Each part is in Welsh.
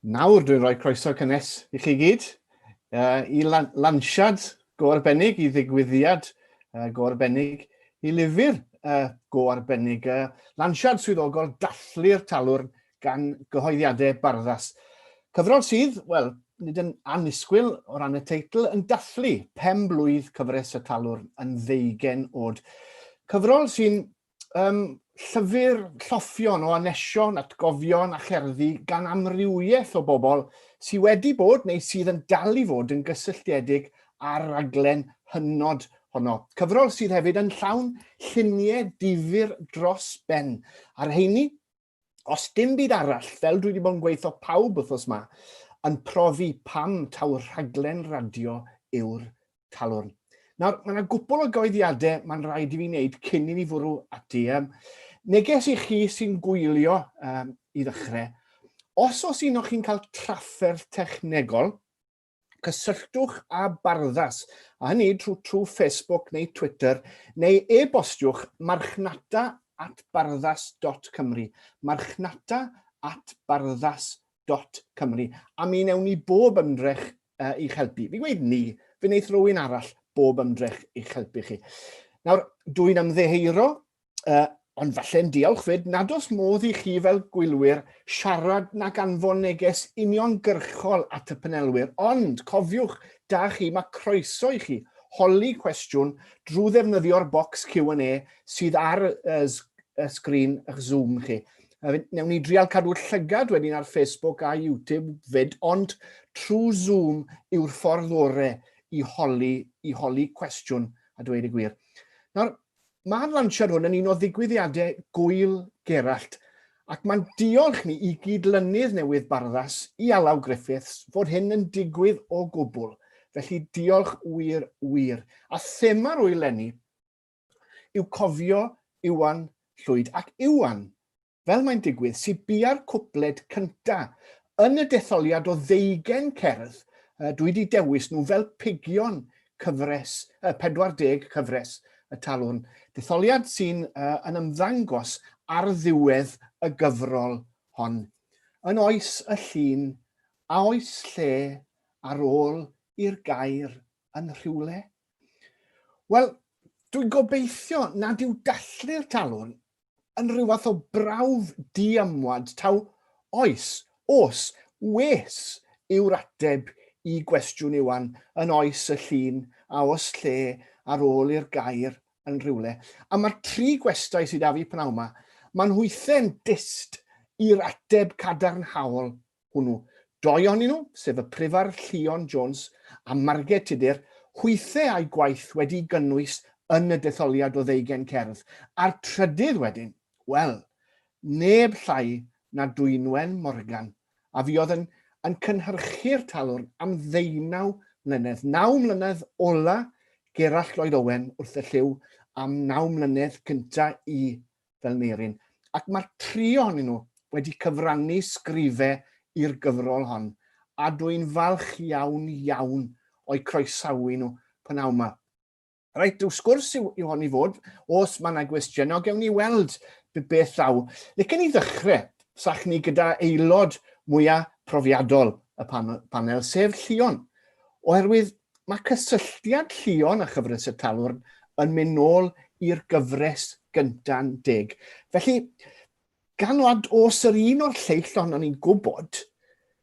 Nawr, dwi'n rhoi croeso cynnes i chi gyd uh, i lan lansiad go arbennig, i ddigwyddiad uh, go arbennig, i lyfr uh, go arbennig. Uh, lansiad swyddogol dathlu'r talwrn gan gyhoeddiadau barddas. Cyfrol sydd, wel, nid yn annisgwyl o ran y teitl, yn dathlu pen blwydd cyfres y talwr yn ddeugen oed. Cyfrol sy'n um, llyfr lloffion o anesion, atgofion a cherddi gan amrywiaeth o bobl sydd wedi bod neu sydd yn dal i fod yn gysylltiedig â'r raglen hynod honno. Cyfrol sydd hefyd yn llawn lluniau difyr dros ben. A'r heini, Os dim byd arall, fel dwi wedi bod yn gweithio pawb wythnos ma, yn profi pam taw rhaglen radio yw'r talwrn. Nawr, mae yna gwpl o goeddiadau mae'n rhaid i fi wneud cyn i ni fwrw ati. Um, neges i chi sy'n gwylio um, i ddechrau, os os un o'ch chi'n cael trafferth technegol, Cysylltwch â Barddas, a hynny trwy trwy Facebook neu Twitter, neu e-bostiwch marchnata at barddas.cymru, marchnata at barddas.cymru, a mi newn ni bob ymdrech uh, i'ch helpu. Fi gweud ni, fe wneith rhywun arall bob ymdrech i'ch helpu chi. Nawr, dwi'n ymddeheuro uh, ond falle'n diolch fyd, nad oes modd i chi fel gwylwyr siarad na ganfon neges uniongyrchol at y panelwyr, ond cofiwch, da chi, mae croeso i chi holi cwestiwn drwy ddefnyddio'r bocs Q&A sydd ar y, y sgrin eich Zoom chi. Newn ni drial cadw llygad wedyn ar Facebook a YouTube fyd, ond trwy Zoom yw'r ffordd orau i holi, i holi cwestiwn a dweud y gwir. Nawr, Mae'r lansiad hwn yn un o ddigwyddiadau Gŵyl Gerallt ac mae'n diolch ni i gyd-lynydd newydd Barddas, Ialaw Griffiths, fod hyn yn digwydd o gwbl, felly diolch wir, wir. A thema'r ŵyl 'leni yw Cofio Iwan Llwyd ac Iwan. fel mae'n digwydd, sydd bia'r cwpled cynta yn y detholiad o ddeugen cerdd, uh, dwi wedi dewis nhw fel pigion cyfres, uh, 40 cyfres y talwn. Detholiad sy'n uh, yn ymddangos ar ddiwedd y gyfrol hon. Yn oes y llun, a oes lle ar ôl i'r gair yn rhywle? Wel, dwi'n gobeithio nad yw dathlu'r talwn yn rhyw fath o brawf diamwad taw oes, os, wes yw'r ateb i gwestiwn Iwan yn oes y llun a os lle ar ôl i'r gair yn rhywle. A mae'r tri gwestai sydd â fi pnawn yma, maen nhw ithe'n dyst i'r ateb cadarnhaol hwnnw. Doi ohonyn nhw, sef y Prifardd Llion Jones a Marged Tudur, hwythau â'u gwaith wedi'i gynnwys yn y detholiad o ddeugain cerdd, a'r trydydd wedyn, wel, neb llai na Dwynwen Morgan, a fuodd yn yn cynhyrchu'r talwrn am ddeunaw mlynedd, naw mlynedd ola' Gerallt Lloyd Owen wrth y llyw, a'm naw mlynedd cynta' i fel Neirin, ac mae'r tri ohonyn nhw wedi cyfrannu sgrifau i'r gyfrol hon, a dw i'n falch iawn, iawn o'u croesawu nhw p'nawn 'ma. Reit, rhyw sgwrs yw, yw hon i fod. Os mae yna gwestiynau, gewn ni weld beth ddaw. Licen ni ddechrau, sach ni, gyda aelod mwyaf profiadol y pan panel, sef Llion. Oherwydd, Mae cysylltiad Llion a chyfres y Talwrn yn mynd nôl i'r gyfres gynta'n deg. Felly, gan wad os yr un o'r lleill ohonon ni'n gwybod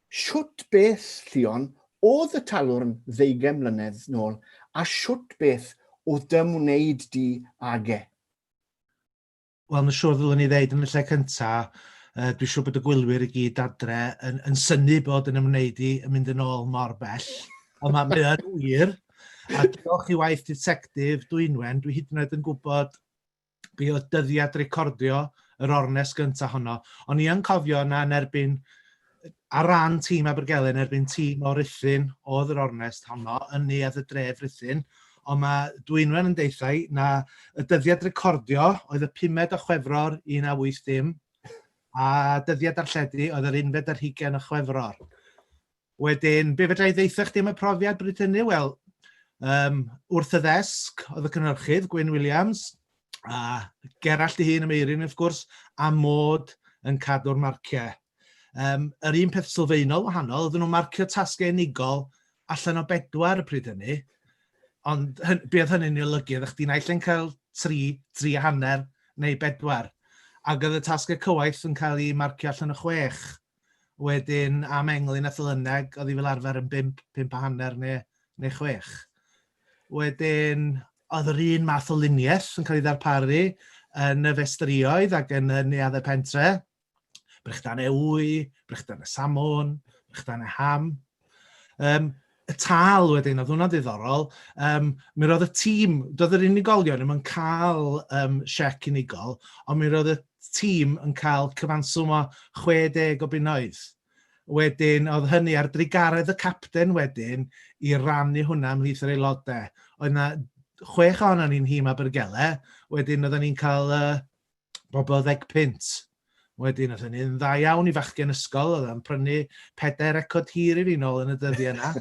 shwt beth, Llion, oedd y Talwrn ddeugain mlynedd nôl a shwt beth oedd dy ymwneud di ag e? Wel ma' siŵr ddylwn i ddeud yn y lle cynta yy dwi siŵr bod y gwylwyr i gyd adre yn yn synnu bod yn ymwneud i yn mynd yn ôl mor bell ond ma' mae yn wir a diolch i waith Ditectif Dwynwen dwi hyd yn oed yn gwybod be' o'dd dyddiad recordio yr ornest gynta honno. O'n i yn cofio na yn erbyn Ar ran tîm Abergele yn erbyn tîm o Ruthun oedd yr ornest honno yn neuadd y dref Ruthun, ond mae Dwynwen yn deithau na y dyddiad recordio oedd y pumed o Chwefror 1980 a dyddiad darlledu oedd yr unfed ar hugain o Chwefror. Wedyn, be fedra i ddeitha chdi am y profiad bryd hynny? Wel, um, wrth y ddesg oedd y cynhyrchydd, Gwyn Williams, a Gerallt i hun am Eirin, wrth gwrs, a mod yn cadw'r marciau. Um, yr un peth sylfaenol wahanol, oedden nhw'n marcio tasgau unigol allan o bedwar y pryd hynny, ond hyn, be oedd hynny'n ei olygu? Oeddech chdi'n naill yn cael tri, tri a hanner neu bedwar, ac oedd y tasgau cywaith yn cael ei marcio allan o chwech. Wedyn am englyn a thylyneg, oedd hi fel arfer yn bimp, pimp a hanner neu, neu chwech. Wedyn, oedd yr un math o luniaeth yn cael ei ddarparu yn y festrioedd ac yn y neuaddau pentre, brechdan ewy, brechdan y samon, brechdan y ham. Um, y tal wedyn, oedd hwnna'n ddiddorol, um, mi roedd y tîm, doedd yr unigolion ddim yn cael um, siec unigol, ond mi roedd y tîm yn cael cyfanswm o 60 o bunnoedd. Wedyn, oedd hynny ar drigaredd y capten wedyn i rannu hwnna ymhlith yr aelodau. Oedd yna chwech ohono ni'n hîm Abergele, wedyn oedden ni'n cael uh, bobl ddeg punt. Wedyn oedd hynny'n dda iawn i fachgen ysgol, oedd o'n prynu pedair record hir i fi nôl yn y dyddiau yna.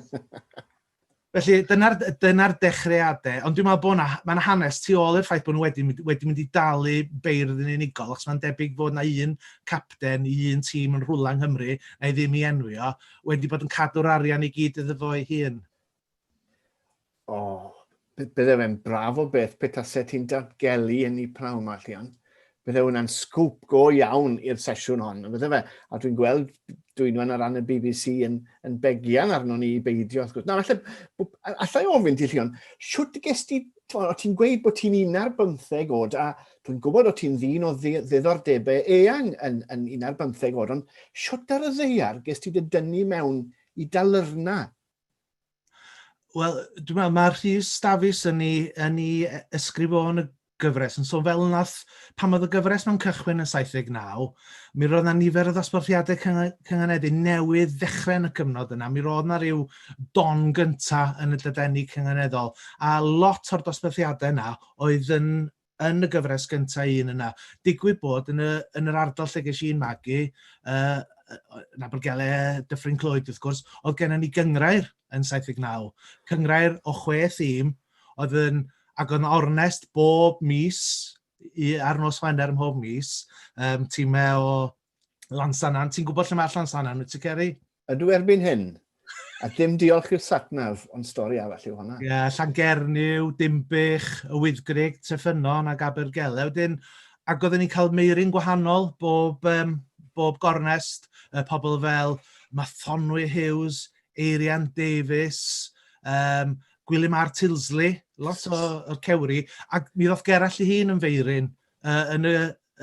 Felly, dyna'r dyna dechreuadau. Ond dwi'n meddwl bod yna, mae'n hanes tu ôl i'r ffaith bod nhw wedi, wedi mynd i dalu beirdd yn unigol, achos mae'n debyg fod yna un capten i un tîm yn rhwla yng Nghymru, na i ddim i enwi o, wedi bod yn cadw'r arian i gyd iddo fo'i hun. O, bydde fe'n braf o beth pe tase ti'n datgelu yn ei pnawn yma, Llian. Bydde hwnna'n sgwp go iawn i'r sesiwn hon, bydde fe. A dwi'n gweld dwynwen ar ran y BBC yn, yn begian arno ni i beidio, wrth gwrs. Na, allai, allai ofyn ti, Llion, siwt ges ti, o ti'n gweud bod ti'n un ar bymtheg oed, a dwi'n gwybod o ti'n ddyn o ddiddordebau eang yn, yn un ar bymtheg oed, ond siwt ar y ddeiar ges ti dy dynnu mewn i dalyrna Wel, dwi'n meddwl, mae Rhys Dafis yn ei, yn ei ysgrif o yn y gyfres yn sôn fel nath, pan oedd y gyfres mewn cychwyn yn 79, mi roedd yna nifer o ddosbarthiadau cynganeddu newydd ddechrau yn y cyfnod yna. Mi roedd yna rhyw don gynta yn y dydenni cynganeddol, a lot o'r dosbarthiadau yna oedd yn yn y gyfres gynta' un yna. Digwydd bod yn y yn yr ardal lle ges i'n magu yy yy yn Abergele, Dyffryn Clwyd wrth gwrs, oedd gennym ni gynghrair yn 79. Cynghrair o chwe thîm oedd yn ac oedd yn ornest bob mis i ar nos Wener mhob mis, um, tîmau o Llansannan. Ti'n gwybod lle mae Llansannan, wyt ti, Ceri? Ydw erbyn hyn. A dim diolch i'r satnaf, ond stori arall yw hwnna. Ie, yeah, Llangernyw, Dimbych, y Wyddgrig, Treffynon ac Abergele. Wedyn, ac oedden ni'n cael meirin gwahanol bob, um, bob gornest, uh, pobl fel Mathonwy Hughes, Eirian Davies, um, Gwilym Ar Tilsley, lot o'r cewri, ac mi ddoth Gerall i hun yn feirin uh, yn, y,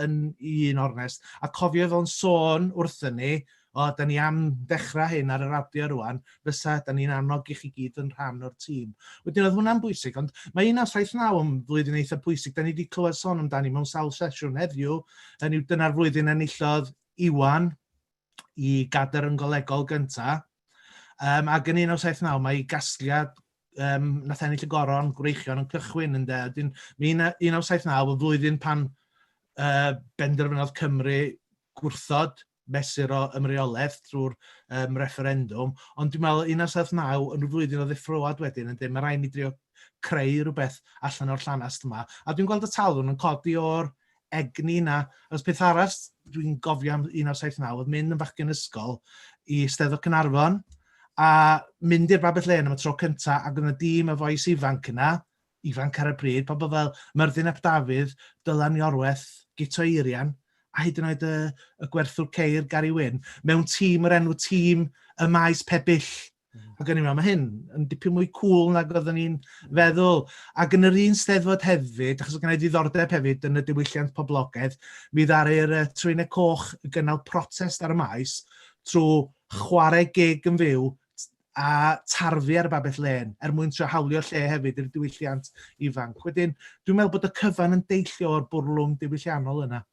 yn un ornest. A cofio fo'n sôn wrthyn ni, o, da ni am dechrau hyn ar y radio rwan, fysa da ni'n annog i chi gyd yn rhan o'r tîm. Wedyn oedd hwnna'n bwysig, ond mae 1979 yn flwyddyn eitha bwysig. Da ni wedi clywed sôn amdani mewn sawl sesiwn heddiw, yn yw dyna'r flwyddyn enillodd Iwan i gader yn golegol gynta. Um, ac yn 1979 mae ei gasgliad um, nath ennill y goron gwreichion yn cychwyn yn dweud. Dyn, mi 1979 y flwyddyn pan uh, benderfynodd Cymru gwrthod mesur o ymreolaeth drwy'r um, referendwm, ond dwi'n meddwl 1979 yn flwyddyn o ddeffroad wedyn yn dweud mae rhaid ni drio creu rhywbeth allan o'r llanast yma. A dwi'n gweld y talwn yn codi o'r egni 'na. Achos peth arall dwi'n gofio am 1979 oedd mynd yn fachgen ysgol i Steddfod Cynarfon a mynd i'r Babell Lên am y tro cynta ac oedd 'na dîm o fois ifanc yna, ifanc ar y pryd, pobl fel Myrddin ap Dafydd, Dylan Iorwerth, Guto Eirian a hyd yn oed y, y gwerthwr ceir Gary Wyn, mewn tîm o'r enw tîm y maes Pebyll Ac o'n i'n meddwl, mae hyn yn dipyn mwy cool nag oeddwn i'n feddwl. Ac yn yr un steddfod hefyd, achos oedd gen i ddiddordeb hefyd yn y diwylliant poblogaidd, mi ddaru'r uh, Trwynau Coch gynnal protest ar y maes trwy chwarae gig yn fyw a tarfu ar y babell len er mwyn trio hawlio lle hefyd i'r diwylliant ifanc. Wedyn, dwi'n meddwl bod y cyfan yn deillio o'r bwrlwm diwylliannol yna.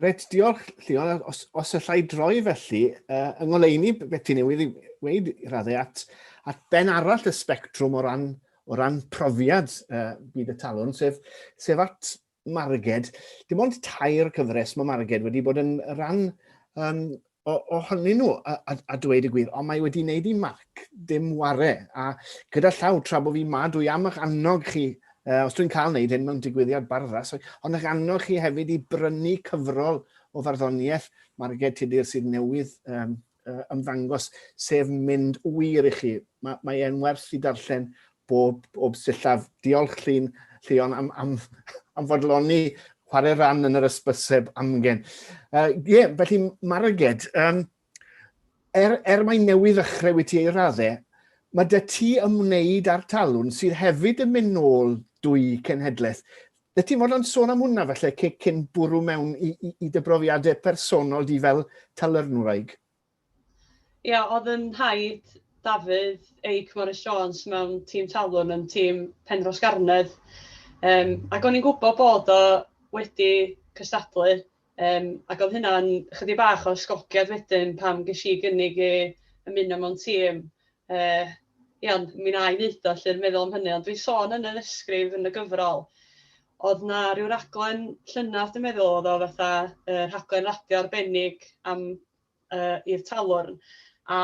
Reit, diolch Llion. Os, os allai droi felly, uh, yng ngoleuni beth ti newydd i weid i raddau at, at ben arall y spectrwm o ran, o ran profiad uh, byd y talwn, sef, sef at Marged. Dim ond tair cyfres mae Marged wedi bod yn rhan um, ohonyn nhw, a, a, a dweud y gwir, ond mae wedi wneud i marc dim ware, a gyda llaw tra bod fi ma, dwi am eich annog chi, uh, os dwi'n cael wneud hyn mewn digwyddiad barddas, ond eich annog chi hefyd i brynu cyfrol o farddoniaeth Marged Tudur sydd newydd um, ymddangos, sef mynd wir i chi. Mae, mae e'n werth i darllen bob, bob sillaf. Diolch Llun, Llion am, am, am fodloni chwarae ran yn yr ysbyseb amgen. Ie, uh, yeah, felly Maraged, um, er, er mae newydd ddechrau wyt ti ei raddau, mae dy ti ymwneud â'r talwn sydd hefyd yn mynd nôl dwy cenhedlaeth. Dy ti'n fod yn sôn am hwnna felly cyn bwrw mewn i, i, i dy brofiadau personol di fel talyrnwraig? Ia, oedd yn rhaid Dafydd Eic Morris Jones mewn tîm talwn yn tîm Penrhosgarnedd. Yym, ac o'n i'n gwybod bod o wedi cystadlu, yym, ac oedd hynna'n chydig bach o ysgogiad wedyn pan ges i gynnig i ymuno mewn tîm. Yy, ia, ond mi wna i wneud o 'lly, yn meddwl am hynny. Ond dwi'n sôn yn yr ysgrif, yn y gyfrol, oedd 'na ryw raglen llynadd dwi'n meddwl oedd o fatha yy rhaglen radio arbennig am yy i'r talwrn a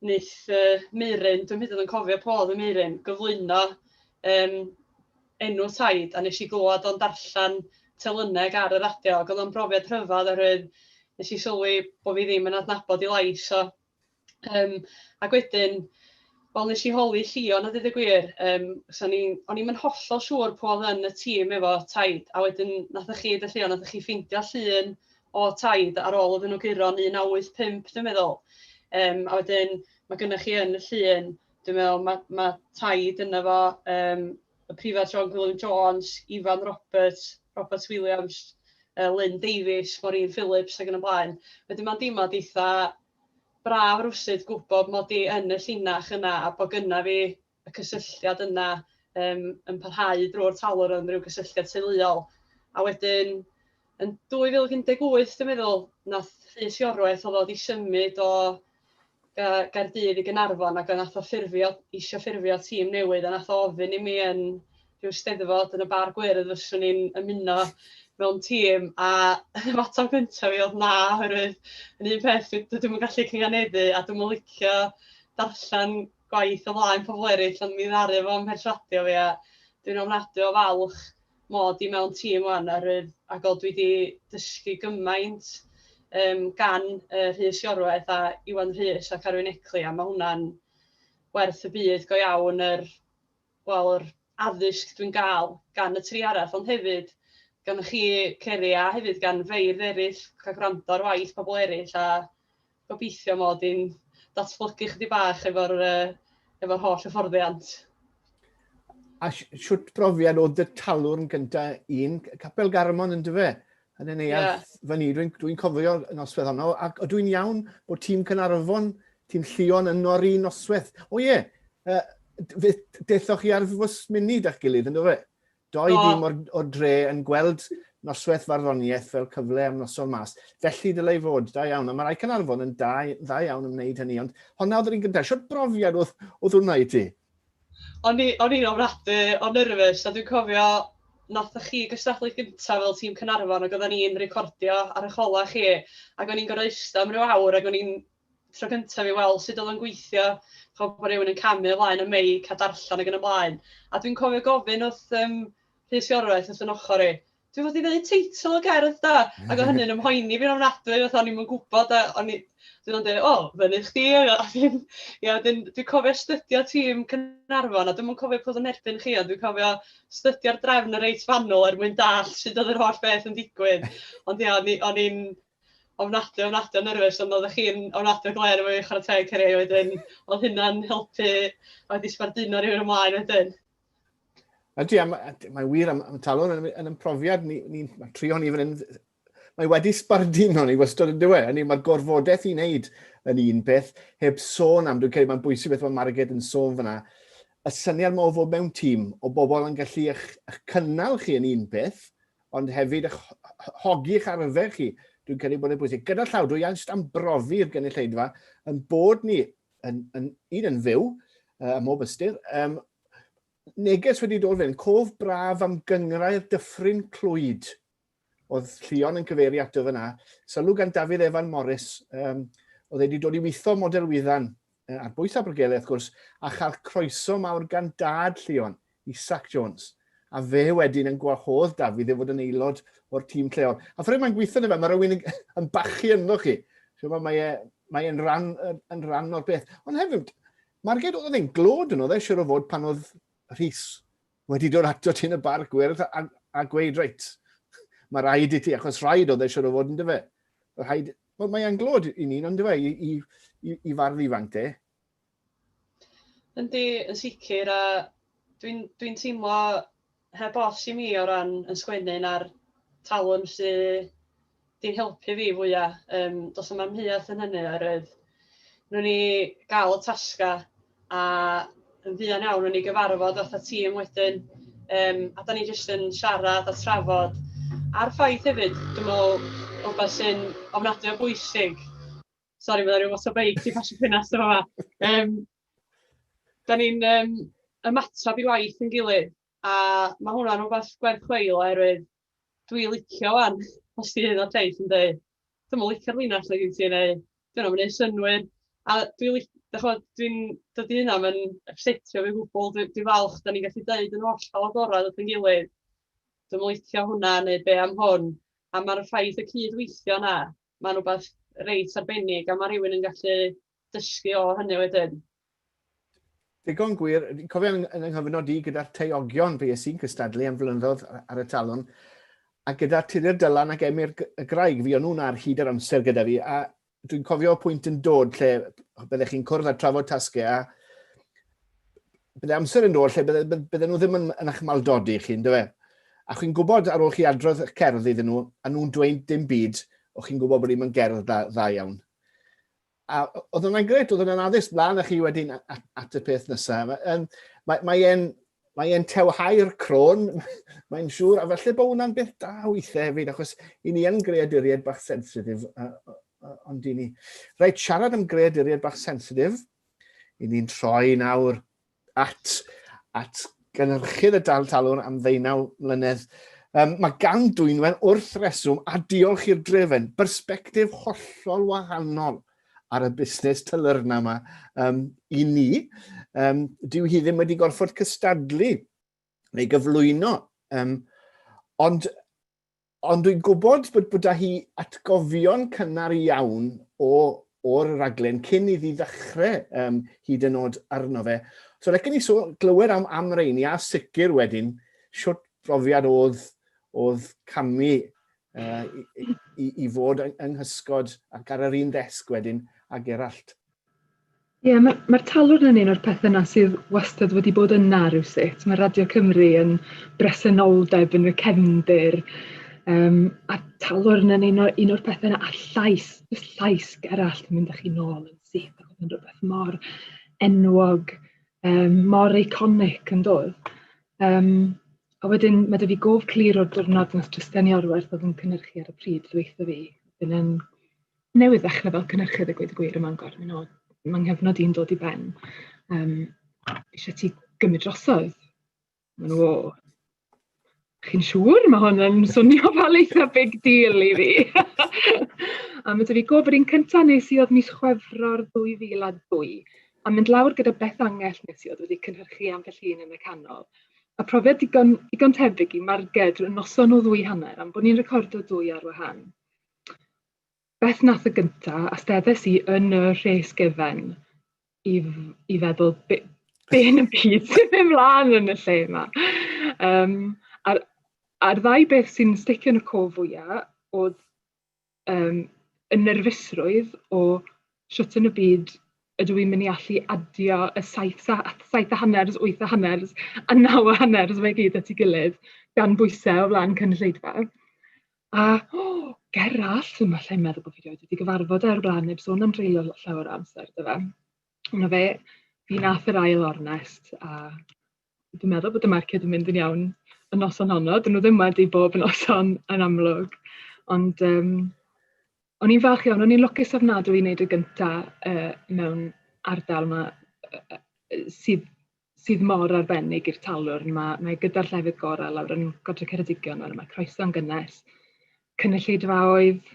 wneith yy Meiryn, dwi'm hyd yn oed yn cofio pwy oedd y Meiryn, gyflwyno yym enw Said a wnes i glywed o'n darllen Telyneg ar y radio ac oedd o'n brofiad rhyfedd oherwydd wnes i sylwi bod fi ddim yn adnabod ei lais o. Yym ac wedyn wel wnes i holi Llion a deud y gwir yym so o'n i'n o'n i'm yn hollol siŵr pwy oedd yn y tîm efo Taid a wedyn wnaethoch chi, Llion, wnaethoch chi ffeindio llun o Tide ar ôl iddyn nhw guro yn 1985 dwi'n meddwl, yym a wedyn ma' gynna chi yn y llun, dwi'n meddwl ma' ma' Tide ynddo fo, yym y Prifardd John Gwilym Jones, Ifan Roberts, Robert Williams, yy Lyn Davies, Maureen Phillips ac yn y blaen. Wedyn mae'n deimlad eitha braf rywsut gwybod mod i yn y llinach yna a bod gynna fi y cysylltiad yna yym yn parhau drwy'r tawel o ran ryw gysylltiad teuluol. A wedyn yn 2018 dwi'n meddwl, wnaeth Rhys Iorwerth oedd o wedi symud o Ga- Gaerdydd i Gaernarfon ac wnaeth o ffurfio, eisiau ffurfio tîm newydd a wnaeth o ofyn i mi yn rhyw steddfod yn y Bar Gwyrdd fyswn i'n ymuno mewn tîm a yr ateb gyntaf fi oedd na oherwydd yn un peth dwi dwi'm yn gallu cynganeddu a dwi'm yn licio darllen gwaith o flaen pobl eraill ond mi ddaru fo mherswadio fi a dwi'n ofnadwy o falch mod i mewn tîm wan ar yr a god dwi di dysgu gymaint um, gan uh, Rhys Iorwaith a Iwan Rhys a Carwyn Ecli a mae hwnna'n werth y byd go iawn yr wel, yr addysg dwi'n gael gan y tri arall, ond hefyd gan chi, Ceri, a hefyd gan feirdd eraill, cael gwrando ar waith pobl eraill, a gobeithio mod i'n datblygu chydig bach efo'r uh, efo holl hyfforddiant. A siwt brofiad oedd y talwrn gyntaf un, Capel Garmon yn dyfe? yn y neuadd yeah. fyny. Dwi'n dwi cofio noswedd honno, ac o dwi'n iawn bod tîm Cynarfon, tîm Llion yn o'r un noswedd. O ie, yeah, uh, dethoch chi ar fws munud a'ch gilydd, ynddo fe? Doi oh. dîm o'r, or dre yn gweld nosweth farddoniaeth fel cyfle am noson mas. Felly dylai fod, da iawn. A mae rai Cynarfon yn da, da iawn yn wneud hynny, ond honna oedd yr un gyntaf. Siwt brofiad oedd, oedd hwnna i ti? O'n i, o'n i'n ofnadwy o nyrfys a dwi'n cofio nathoch chi gystadlu gynta fel tîm Caernarfon ac oedden ni'n recordio ar y cola chi ac o'n i'n gorfod ista am ryw awr ac o'n i'n tro cynta fi weld sut oedd o'n gweithio ch'od bod rhywun yn camu ymlaen y meic a darllen ac yn y blaen a dwi'n cofio gofyn wrth yym Rhys Iorwerth wrth 'y nochor i dwi fod i ddeud teitl y gerdd da, ac o hynny'n ymhoeni fi'n ofnadwy, oedd o'n i'm yn gwybod, a o'n i, dwi'n o'n dweud, o, fyny chdi, a ddim, ia, dwi'n dwi cofio stydio tîm Cynarfon, a dwi'n yn cofio pwy yn erbyn chi, ond dwi'n cofio stydio'r drefn y reit fanwl er mwyn dall sydd oedd yr holl beth yn digwydd, ond ia, o'n i'n ofnadwy, ofnadwy o nyrfys, ond oeddech chi'n ofnadwy o gler efo i chwarae teg cyrraedd wedyn, oedd hynna'n helpu, oedd i sbarduno rhywun ymlaen wedyn. Ydy, mae'n wir am, am talwr yn, yn ymprofiad, ni'n ni, ni trio ni fan hyn, mae wedi sbarduno ni wastad yn dweud, hynny mae'r gorfodaeth i wneud yn un peth, heb sôn am, dwi'n credu mae'n bwysig beth mae Margaret yn sôn fyna, y syniad mae o fod mewn tîm o bobl yn gallu eich, eich cynnal chi yn un peth, ond hefyd eich hogi eich arfer chi, dwi'n credu bod yn bwysig. Gyda llaw, dwi eisiau am brofi'r gynulleidfa yn bod ni yn, yn, un yn fyw, uh, ym mhob ystyr. Um, neges wedi dod fe'n cof braf am gyngrau'r dyffryn clwyd. Oedd Llion yn cyfeirio ato fyna. Sylw gan Dafydd Evan Morris, um, oedd wedi dod i weithio model wyddan ar bwys Abergele, wrth gwrs, a chael croeso mawr gan dad Llion Isaac Jones, a fe wedyn yn gwahodd Dafydd i fod yn aelod o'r tîm lleol. A ffrwyd mae'n gweithio yna fe, mae rhywun yn bachu ynddo chi. Chymod, mae e, mae e'n rhan, yn rhan o'r beth. Ond hefyd, Marged, oedd e'n glod yn oedd e, siwr o fod pan oedd Rhys wedi dod ato ti yn y bar gwyrdd a, a gweud, reit, mae rhaid i ti, achos rhaid oedd e siwr o fod yn dyfe. Rhaid, wel, mae e'n glod i ni, ond dyfe, i, i, i, i fardd ifanc te. Yndi, yn sicr a dwi'n dwi'n teimlo heb os i mi o ran yn sgwennu na'r talwm sy 'di'n helpu fi fwya', yym does na'm amheuaeth yn hynny oherwydd newn ni gael y tasgau a yn fuan iawn newn ni gyfarfod fatha tîm wedyn yym a 'dan ni jyst yn siarad a trafod a'r ffaith hefyd dwi'n meddwl rywbeth sy'n ofnadwy o bwysig Sori, mae yna rhyw fath o beic 'di pasio ffenast yn fama. Yym, dan ni'n yym ymateb i waith ein gilydd, a ma' hwnna'n rywbeth gwerth chweil oherwydd dwi'n licio 'wan, os 'di Aelod Lleis yn deud "dwi'm yn licio'r linell 'na gen ti" neu "'di hwnna ddim yn wneud synnwyr". A dwi'n lic- dach chimod, dwi'n... dydy hynna ddim yn ypsetio fi o gwbl, dwi dwi'n falch dan ni'n gallu deud yn hollol agored at ein gilydd "dwi'm yn licio hwnna" neu "be am hwn". A ma'r ffaith y cyd-weithio 'na Mae'n rhywbeth reit arbennig a mae rhywun yn gallu dysgu o hynny wedyn. Digon gwir, cofio yn, yn nghyfnod i gyda'r teiogion fe ys i'n cystadlu am flynyddoedd ar y talwn, a gyda Tudur Dylan ac Emyr y Graig, fi o'n nhw'n ar hyd yr amser gyda fi, a dwi'n cofio pwynt yn dod lle byddech chi'n cwrdd a trafod tasgau a bydde amser yn dod lle bydde, bydde, bydde nhw ddim yn, yn eich maldodi chi, ynddo fe? A chi'n gwybod ar ôl chi adrodd y cerdd iddyn nhw, a nhw'n dweud dim byd, o chi'n gwybod bod ni'n mynd gerdd dda, dda iawn. A oedd yna'n gret, oedd yna'n addysg blaen a chi wedyn at, at y peth nesaf. Um, mae, mae e'n mae e'n tewhau'r crôn, mae'n siŵr, a felly bod hwnna'n beth da weithiau hefyd, achos i ni yn greaduriaid bach sensitif, ond i ni. Rhaid siarad am greaduriaid bach sensitif, I ni'n troi nawr at, at gynhyrchydd y dal talwr am ddeunaw mlynedd. Um, mae gan Dwynwen wrth reswm a diolch i'r drefen, bersbectif hollol wahanol ar y busnes tylyrna yma um, i ni. Um, dyw hi ddim wedi gorfod cystadlu neu gyflwyno. Um, ond Ond dwi'n gwybod bod bod 'da hi atgofion cynnar iawn o o'r raglen cyn iddi ddechrau um, hyd yn oed arno fe. So lecen ni so glywed am, am reini a sicr wedyn siwt brofiad oedd, oedd camu uh, i, i, i fod yng nghysgod ac ar yr un ddesg wedyn a Gerallt. Ie ma' ma'r talwrn yn un o'r pethe 'na sydd wastad wedi bod yna rywsut. Ma' Radio Cymru yn bresenoldeb yn y cefndir yym a talwrn yn un o un o'r pethe 'na a'r llais jyst llais Gerallt yn mynd â chi nôl yn syth ac yn rwbeth mor enwog yym mor eiconic yndodd? Yym a wedyn ma' 'dy fi gof clir o'r diwrnod nath Tristan Iorwerth o'dd yn cynyrchu ar y pryd ddweutho fi yn yn newydd ddechrau fel cynhyrchydd a gweud y gwir ym Mangor. Mae'n od, mae nghyfnod i'n dod i ben. Um, eisiau ti gymryd drosodd? Mae'n nhw, o, chi'n siŵr? Mae hwn yn swnio fel eitha big deal i fi. a mae dy fi gofod un cyntaf nes i oedd mis chwefro'r 2002 a mynd lawr gyda beth angell nes i oedd wedi cynhyrchu am felly yn y canol. A profiad digon, digon tebyg i marged y noson o ddwy hanner am bod ni'n recordo dwy ar wahan. beth wnaeth y gynta, a steddes i yn y rhes gyfen i, i feddwl be, be yn y byd sy'n mynd mlaen yn y lle yma. Um, a'r, a'r ddau beth sy'n sticio yn y co fwyaf oedd um, y nerfusrwydd o siwt yn y byd ydw i'n mynd i allu adio y saith, saith a hanners, wyth a hanners, a naw a hanners, mae gyd at ei gilydd, gan bwysau o flaen cynulleidfa. A o, ger arall, fi'n falle yn meddwl bod fi wedi gyfarfod e o'r blaen, neb sôn am dreulio llawer o amser gyda fe. Ond fe, fi nath yr ail ornest, a dwi'n meddwl bod y marced yn mynd yn iawn y noson honno. Dyn nhw ddim wedi bob noson yn amlwg. Ond um, o'n i'n falch iawn, o'n i'n lwcus ofnadwy i wneud y gyntaf uh, mewn ardal yma uh, sydd sydd mor arbennig i'r talwrn. Mae mae gyda'r llefydd gorau lawr yn Godre Ceredigion nawr, mae croeso'n gynnes, cynulleidfaoedd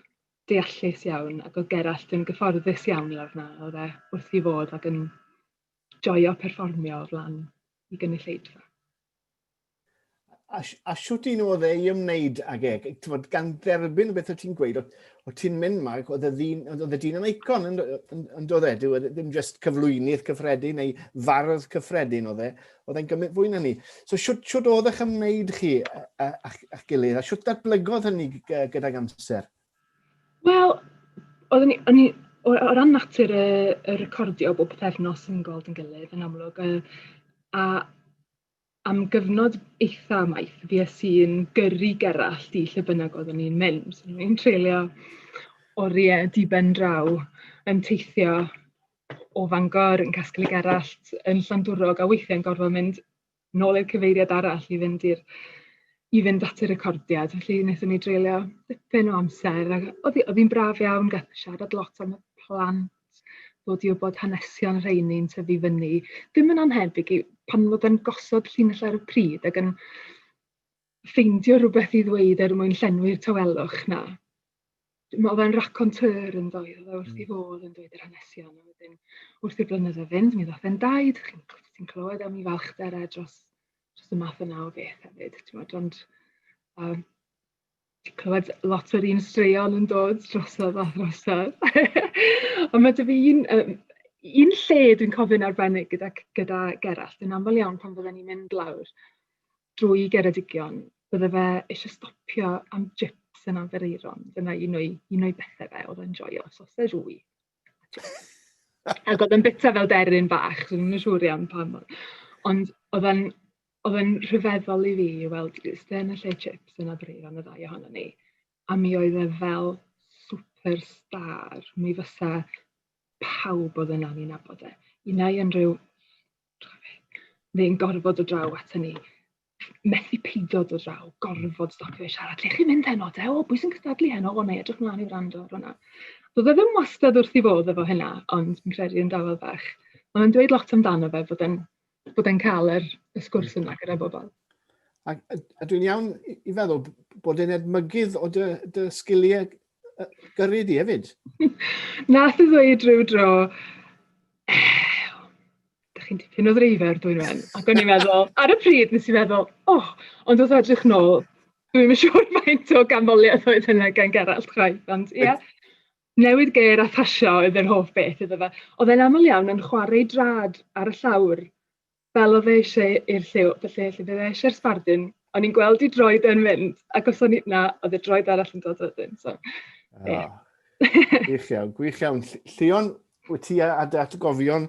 deallus iawn, ac oedd Gerallt yn gyfforddus iawn lawr yna, oedd e wrth ei fodd ac yn joio perfformio o flaen ei gynulleidfa. a, a siwt un oedd ei ymwneud ag e, tywod, gan dderbyn beth o ti'n gweud, o ti'n mynd ma, oedd y ddyn, oedd y dyn yn eicon yn, yn, yn dod e, dyw e ddim just cyflwynydd cyffredin neu fardd cyffredin oedd e, oedd e'n gymryd fwy na ni. So siwt, siwt oedd eich ymwneud chi a'ch gilydd, a siwt datblygodd hynny gyda'r amser? Wel, oedd ni, o'n i, o, o ran natur y, y recordio bob pethefnos yn gweld yn gilydd yn amlwg, a, a am gyfnod eitha maith, fues i'n gyrru Gerallt i lle bynnag oeddwn i'n mynd. O'n i'n treulio oriau diben draw yn teithio o Fangor, yn casglu Gerallt, yn Llandwrog, a weithiau'n gorfod mynd nôl i'r cyfeiriad arall i fynd i'r i fynd at y recordiad. Felly, wnaethon ni dreulio dipyn o amser, ac oedd hi oedd hi'n braf iawn, gath siarad lot am y plant, plant, dod i wybod hanesion rheini'n tyfu fyny. Dim yn anhebyg i pan fod yn gosod llinell ar y pryd ac yn ffeindio rhywbeth i ddweud er mwyn llenwi'r tawelwch na. Dwi'n meddwl fe'n raconteur yn ddoedd, oedd e wrth i hmm. fod yn dweud yr hanesion, a wedyn wrth i'r blynyddoedd fynd, mi ddoth e'n daid, chi'n clywed am i falchder e dros, dros y math yna o beth hefyd, ti'n meddwl, ond um, clywed lot o'r un straeon yn dod drosodd a throsodd. Ond mae 'da fi un, um, un lle dwi'n cofio'n arbennig gyda, gyda Gerallt yn aml iawn pan fydden ni'n mynd lawr drwy Geredigion, bydde fe eisiau stopio am jips yn Anfereiron. Dyna un o'i, un o'i bethau fe, oedd e'n joio, sausage wy. Ac oedd yn bita fel deryn bach, so ddim yn siŵr iawn pam. Ond oedd e'n oedd e'n rhyfeddol i fi i weld Sten y lle chips yn abryd am y ddau ohono ni. A mi oedd e fel superstar. Mi fysa pawb oedd yna ni'n nabod e. Unai unrhyw... Dwi'n gorfod dod draw ato ni. methu peidio dod draw, gorfod stopio i siarad. Lle chi'n mynd heno te? O, bwys yn cystadlu heno? O, neu edrych mlaen i wrando ar hwnna. Doedd e ddim wastad wrth i fod efo hynna, ond fi'n credu yn dafod fach. Ond yn dweud lot amdano fe bod e'n bod e'n cael yr, y sgwrs yna gyda bobl. A, a dwi'n iawn i feddwl bod e'n edmygydd o dy, dy sgiliau gyrru di hefyd. Nath i ddweud rhyw dro, dach chi'n dipyn o ddreifr dwyn wen. Ac o'n i'n meddwl, ar y pryd nes i'n meddwl, o, oh, ond wrth edrych nôl, dwi'n yn siŵr faint o ganmoliaeth oedd hynna gan Gerallt chwaith, ond ie. Yeah. Newid geir a phasio oedd yr hoff beth iddo fe. Oedd e'n aml iawn yn chwarae drad ar y llawr, fel oedd e eisiau i'r lliw, felly lle bydd e eisiau'r sbardun, o'n i'n gweld i droed e'n mynd, ac os o'n i na, oedd y droed arall yn dod wedyn. So, yeah. Oh. Gwych iawn, gwych iawn. Llion, Wyt ti a dy atgofion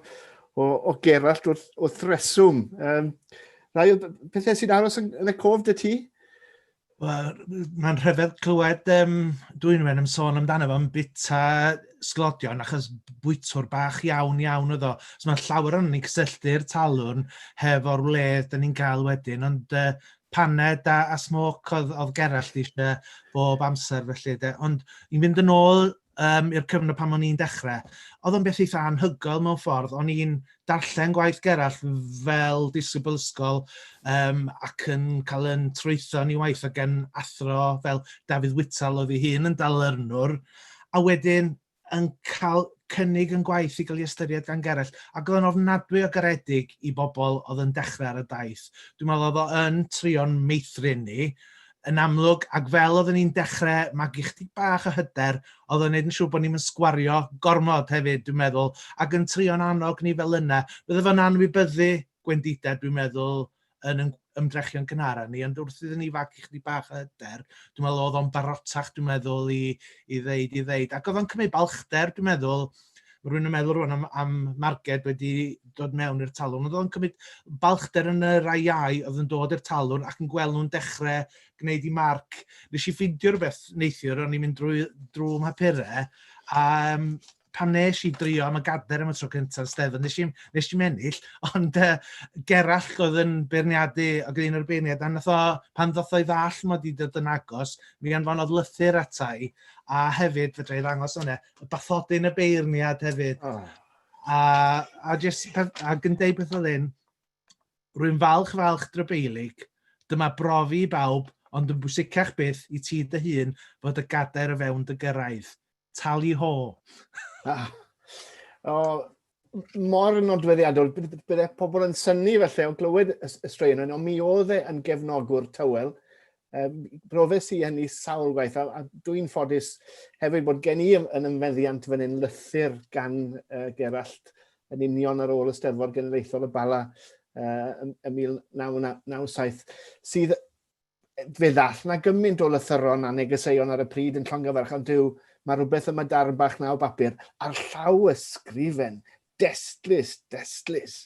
o, o Gerallt wrth, wrth reswm. Um, rhai o pethau sy'n aros yn, yn y cof dy ti? Wel, mae'n rhyfedd clywed um, Dwynwen yn sôn amdano fo'n bita sglodion achos bwytwr bach iawn iawn oedd o. So mae llawer o'n ni'n cysylltu'r talwrn hefo'r wledd dyn ni'n cael wedyn, ond uh, paned a, a smoc oedd, oedd Gerallt eisiau bob amser felly. De. Ond i'n fynd yn ôl um, i'r cyfnod pan o'n i'n dechrau, oedd o'n beth eitha anhygoel mewn ffordd. O'n i'n darllen gwaith Gerallt fel disgybl ysgol um, ac yn cael yn trwytho ni waith o gen athro fel Dafydd Whitall oedd ei hun yn dalyrnwr, a wedyn yn cael cynnig yn gwaith i gael ei ystyried gan Gerallt, ac oedd yn ofnadwy o garedig i bobl oedd yn dechrau ar y daith. Dwi'n meddwl oedd o'n trio'n meithrin ni, yn amlwg, ac fel oedden ni'n dechrau magu chdig bach o hyder, oedd o'n gwneud yn siŵr bod ni'n sgwario gormod hefyd, dwi'n meddwl, ac yn trio'n annog ni fel yna. Bydde fo'n anwybyddu gwendidau, dwi'n meddwl, yn yn ymdrechion gynhara ni, ond wrth iddyn ni fagu chdig bach o hyder, dwi'n meddwl oedd o'n barotach, dwi'n meddwl, i, i ddeud, i ddeud. Ac oedd o'n cymryd balchder, dwi'n meddwl, Mae rhywun yn meddwl rwan am, am marged wedi dod mewn i'r talwrn. Oedd o'n cymryd balchder yn y rai iau oedd yn dod i'r talwrn ac yn gweld nhw'n dechrau gwneud i marc. Nes i ffidio rhywbeth neithiwr, o'n i'n mynd drwy, drwy mhapurau, a um, pan nes i drio am y gader am y tro cyntaf yn Stefan, nes i, nes i mennill, ond uh, Gerall oedd yn beirniadu ac un o'r beirniad, a nath o, pan ddoth o'i ddall mod i dod yn agos, mi anfonodd lythyr atai, a hefyd fedra i ddangos hwnna, bathodyn y beirniad hefyd. Oh. A, a, just, a gyndeu beth oedd hyn, rwy'n falch falch drybeilig, dyma brofi i bawb, ond yn bwysicach byth i ti dy hun fod y gadair o fewn dy gyrraedd. Tali ho. ah. O, mor nodweddiadol, bydde pobl yn syni felly o glywed y straeon yna, ond mi oedd e yn gefnogwr tywel. Um, Brofes i hynny sawl gwaith, a, a dwi'n ffodus hefyd bod gen i yn ymfeddiant fan hyn lythyr gan uh, Gerallt yn union ar ôl y Steddfod Genedlaethol y Bala uh, ym 1997, sydd fe ddath na gymaint o lythyron a negeseuon ar y pryd yn llongyfarch, ond Duw, mae rhywbeth yma darn bach na o bapur, ar llaw ysgrifen, destlus, destlus.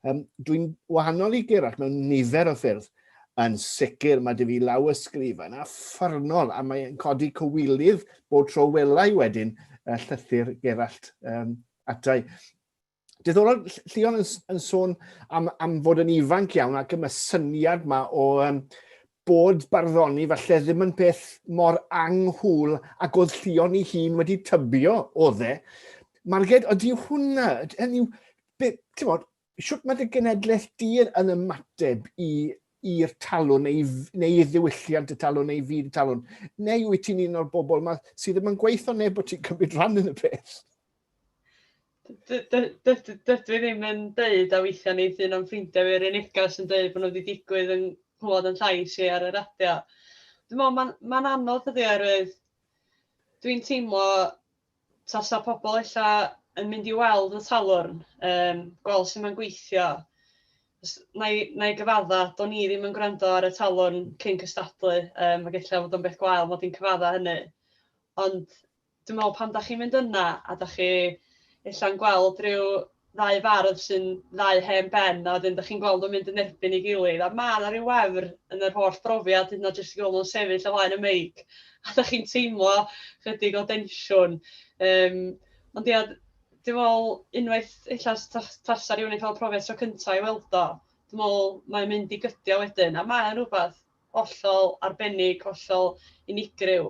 Um, Dwi'n wahanol i Gerard mewn nifer o ffyrdd, yn sicr mae dy fi law ysgrifen a ffyrnol a mae'n codi cywilydd bod tro welai wedyn y llythyr Gerallt um, atai. Diddorol, Llion yn, yn sôn am, am fod yn ifanc iawn ac yma syniad yma o um, bod barddoni falle ddim yn peth mor anghwl ac oedd llion i hun wedi tybio o dde. Marged, ydy hwnna, hynny yw, ti'n bod, siwt mae dy genedlaeth di yn ymateb i i'r talwn neu, neu i ddiwylliant y talwn neu i fyd y talwn? Neu wyt ti'n un o'r bobl yma sydd ddim yn gweithio neb bod ti'n cymryd rhan yn y peth? D- d- d- d- dydw i ddim yn deud, a weithiau neith un o'n ffrindiau fi ar ei neges yn deud bod nhw wedi digwydd yn clywed yn llais i ar y radio. Dwi'n meddwl mae'n ma anodd ydy oherwydd dwi'n teimlo tasa pobl ella yn mynd i weld y talwrn, um, gweld sut mae'n gweithio. Na i, na i gyfadda, do'n i ddim yn gwrando ar y talwrn cyn cystadlu, um, ac ella fod o'n beth gwael mod i'n cyfadda hynny. Ond Dwi'n meddwl pan dach chi'n mynd yna a dach chi ella'n gweld rhyw ddau fardd sy'n ddau hen ben a wedyn dach chi'n gweld nhw'n mynd yn erbyn ei gilydd a ma' 'na ryw wefr yn yr holl brofiad hyd yn o'd jyst i gweld nhw'n sefyll o flaen y meic a dach chi'n teimlo chydig o densiwn yym ond ia d- dwi'n meddwl unwaith ella s- ta- tasa rywun yn cael y profiad tro cynta i weld o dwi'n meddwl mae'n mynd i gydio wedyn a mae o'n rywbeth hollol arbennig, hollol unigryw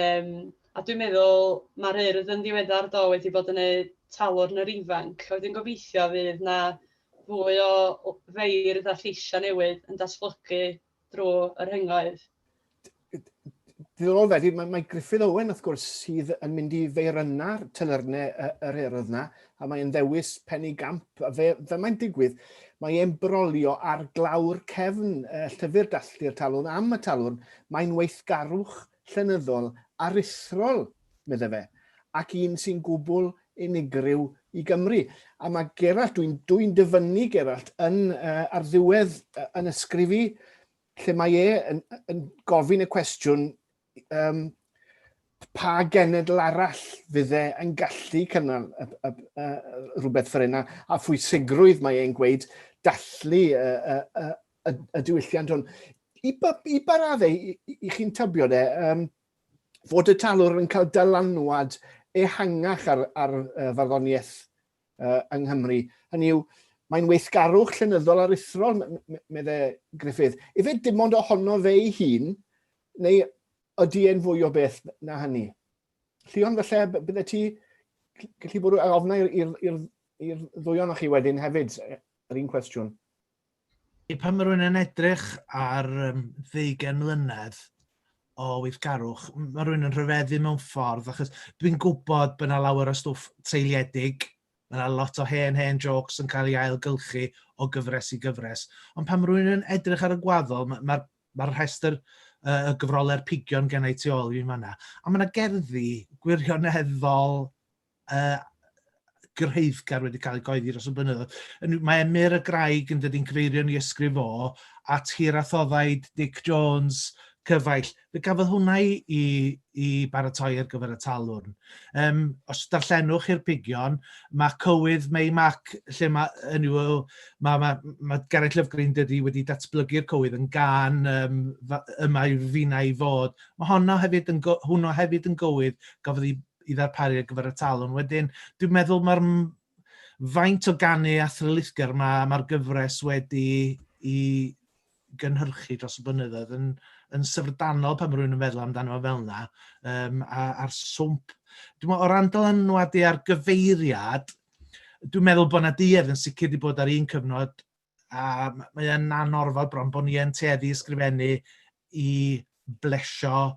yym a dwi'n meddwl mae'r Urdd yn ddiweddar do wedi bod yn wneud talwrn yr ifanc, a wedyn gobeithio fydd 'na fwy o o feirdd a lleisiau newydd yn datblygu drwy y rhyngoedd. diddorol wedyn, mae, mae Griffith Owen, wrth gwrs, sydd yn mynd i feirynau'r tylyrne yr erodd yna, a mae'n ddewis penny gamp, a fe, fe mae'n digwydd, mae e'n brolio ar glawr cefn uh, llyfr dalltu'r talwn am y talwn, mae'n weithgarwch llenyddol aruthrol, meddai fe, ac un sy'n gwbl unigryw i Gymru. A mae Gerallt, dwi'n dwi dyfynnu Gerallt, yn, uh, ar ddiwedd uh, yn ysgrif i, lle mae e yn, yn gofyn y cwestiwn um, pa genedl arall fydd e yn gallu cynnal y, y, y, rhywbeth fel yna, a phwysigrwydd mae e'n gweud dallu y, y, y, y, y diwylliant hwn. I, ba, i ba raddau, i, i chi'n tybio de, um, fod y talwr yn cael dylanwad ehangach ar, ar uh, farddoniaeth uh, yng Nghymru. Hynny yw, mae'n weithgarwch llenyddol aruthrol, meddai Griffith. Ife dim ond ohono fe ei hun, neu ydy e'n fwy o beth na hynny? Llion, felly, bydde ti gallu bod yn ofnau i'r ddwy o'n chi wedyn hefyd, yr un cwestiwn. Ie, pan mae rhywun yn edrych ar um, ddeugen mlynedd o weithgarwch, mae rhywun yn rhyfeddu mewn ffordd, achos dwi'n gwybod bod yna lawer o stwff treiliedig, mae yna lot o hen hen jokes yn cael ei ailgylchu o gyfres i gyfres, ond pan mae rhywun yn edrych ar y gwaddol, mae'r ma, ma rhestr uh, y gyfroler pigion gen i tu ôl i'n fanna, a mae yna gerddi gwirioneddol uh, gyrhaeddgar wedi cael ei goeddi dros y blynyddoedd. Mae Emyr y Graig yn dod i'n cyfeirio ni ysgrif o at hir athoddaid Dick Jones, cyfaill. Fe gafodd hwnna i, i, i baratoi ar gyfer y talwrn. Um, os darllenwch i'r pigion, mae cywydd May Mac, lle mae, yn yw, mae, mae, mae Gareth Lyfgreen dydy wedi datblygu'r cywydd yn gan um, yma yw fina i fod. Mae honno hefyd yn, hwnnw hefyd yn gywydd gafodd ei i ddarparu ar gyfer y talwn. Wedyn, dwi'n meddwl mae'r faint o ganu a thrylithgar mae ma gyfres wedi i gynhyrchu dros y blynyddoedd yn, yn syfrdanol pan mae rhywun yn feddwl amdano fel yna, um, a'r swmp. Dwi'n meddwl, o ran dylanwadu ar gyfeiriad, dwi'n meddwl bod yna duedd yn sicr wedi bod ar un cyfnod a mae e'n anorfod bron bod ni yn tueddu ysgrifennu i blesio,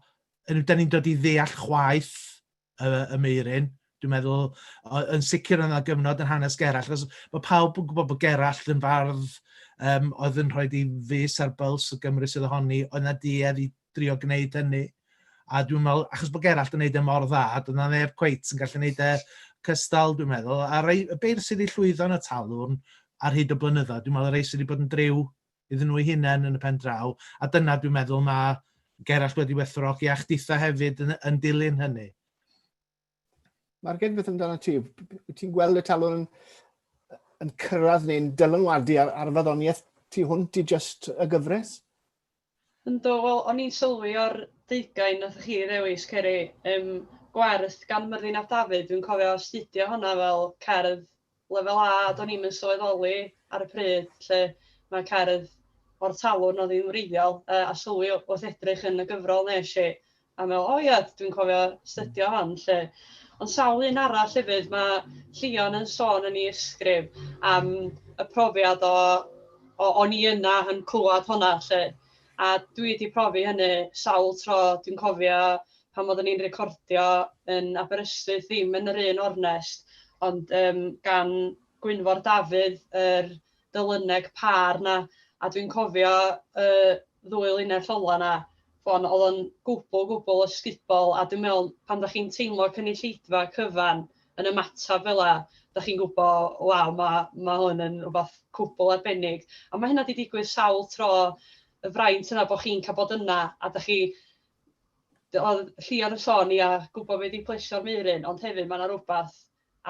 yn, da ni'n dod i ddeall chwaith y, y meirin, dwi'n meddwl, yn sicr yna gyfnod yn hanes Gerall, achos mae pawb yn gwybod bod Gerall yn fardd um, oedd yn rhoi di fus ar byls y Gymru sydd ohoni, oedd na duedd i drio gwneud hynny. A dwi'n meddwl, achos bod Gerallt yn gwneud e mor dda, dwi'n meddwl neb cweit yn gallu gwneud e cystal, dwi'n meddwl. A rei, y beir sydd wedi llwyddo yn y talwrn ar hyd y blynyddoedd, dwi'n meddwl y rei sydd wedi bod yn driw iddyn nhw hunain yn y pen draw, a dyna dwi'n meddwl mae Gerallt wedi wethrogi a chditha hefyd yn, yn dilyn hynny. Mae'r gen beth amdano ti. Ti'n gweld y talwr yn, yn cyrraedd neu'n dylanwadu ar, ar faddoniaeth tu hwnt i just y gyfres? Ynddo, wel, o'n i'n sylwi o'r deugain nath chi ddewis, Ceri, um, gwerth gan Myrddin ap Dafydd, dwi'n cofio astudio hwnna fel cerdd Lefel A, a do'n i'm yn sylweddoli ar y pryd lle mae cerdd o'r talwrn oedd hi'n wreiddiol yy a sylwi wrth edrych yn y gyfrol wnes i a meddwl o ia dwi'n cofio astudio hon 'lly. Ond sawl un arall hefyd mae Llion yn sôn yn ei ysgrif am y profiad o o o'n i yna yn clywed honna 'lly. A dwi 'di profi hynny sawl tro. Dwi'n cofio pan oedden ni'n recordio yn Aberystwyth, ddim yn yr un ornest, ond yym gan Gwynfor Dafydd, yr Dyluneg pâr 'na, a dwi'n cofio y ddwy linell ola' 'na, ch'mod oedd o'n gwbl, gwbl ysgubol, a dwi'n meddwl pan dach chi'n teimlo cynulleidfa cyfan, yn ymateb fel 'na, dach chi'n gwybod, waw ma' ma' hwn yn rywbeth cwbl arbennig. A ma' hynna 'di digwydd sawl tro, y fraint yna bod chi'n cael bod yna a dach chi... oedd Llion yn sôn ia, gwybod be 'di plesio'r Meuryn, ond hefyd ma' 'na rywbeth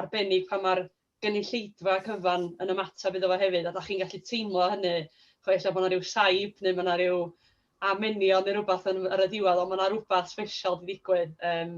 arbennig pan ma'r gynulleidfa cyfan yn ymateb iddo fo hefyd a dach chi'n gallu teimlo hynny, chibod ella bod 'na ryw saib neu ma' 'na ryw amenion neu rywbeth yn ar y diwedd ond ma' 'na rywbeth sbesial 'di digwydd yym